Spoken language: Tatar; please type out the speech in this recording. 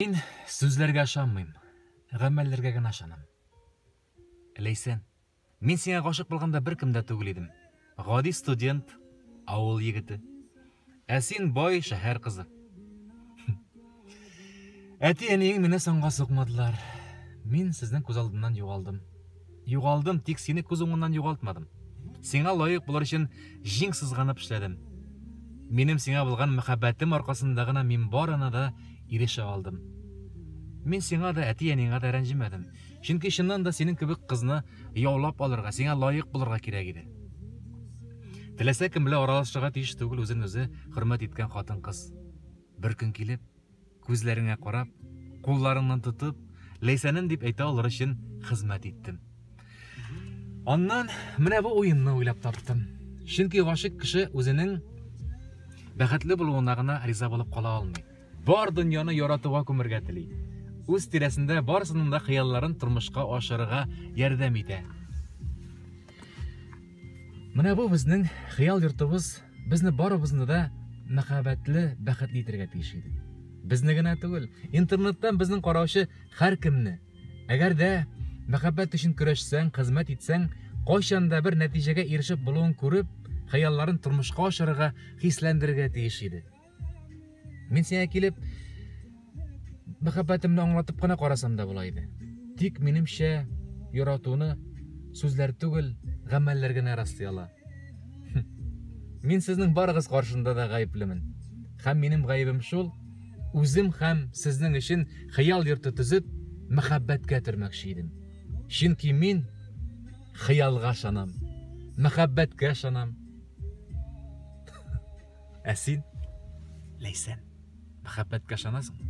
Мин сүзләргә ышанмыйм, гамәлләргә генә ышанам. Ләйсән, мин сиңа гашык булганда беркем дә түгел идем. Гади студент, авыл егете. Ә син бай шәһәр кызы. Әти-әниең мине санга сукмадылар. Мин сезнең күз алдыннан югалдым. Югалдым, тик сине күз уңыннан югалтмадым. Сиңа лаек булыр өчен җиң сызганып эшләдем. Минем сиңа булган мәхәббәтем аркасында гына мин барына да ирешә алдым. Мин сиңа да, әти-әнеңә дә рәнҗемәдем. Чөнки чыннан да синең кебек кызны яулап алырга, сиңа лаек булырга кирәк иде. Теләсә кем белән аралашырга тиеш түгел үзен үзе хөрмәт иткән хатын-кыз. Бер көн килеп, Күзләреңә карап, кулларыңнан тотып, Ләйсәнем дип әйтә алыр өчен хезмәт иттем. Аннан менә бу уенны уйлап таптым. Чөнки гашык кеше үзенең бәхетле булуына гына риза булып кала алмый. Бар дөньяны яратуга күмергә тели. Үз тирәсендә барсының да хыялларын тормышка ашырырга ярдәм итә. Менә бу безнең хыял йортыбыз безне барыбызны да мәхәббәтле, бәхетле итәргә тиеш иде. Безне генә түгел, интернеттан безнең караучы һәркемне. Әгәр дә мәхәббәт өчен көрәшсәң, хезмәт итсәң, кайчан да бер нәтиҗәгә ирешеп булуын күреп, хыялларын тормышка ашырырга, хисләндерергә тиеш иде. Мин сиңа килеп мәхәббәтемне аңлатып кына карасам да була иде. Тик минемчә яратуны сүзләр түгел, гамәлләр генә раслый ала. Мин сезнең барыгыз каршында да гаеплемен. Хәм минем гаебем шул, үзем хәм сезнең өчен хыял йорты төзеп, мәхәббәткә төрмәкче идем. Чөнки мин хыялга шанам, мәхәббәткә шанам. Ә син, Ләйсән, мәхәббәткә ышанасыңмы?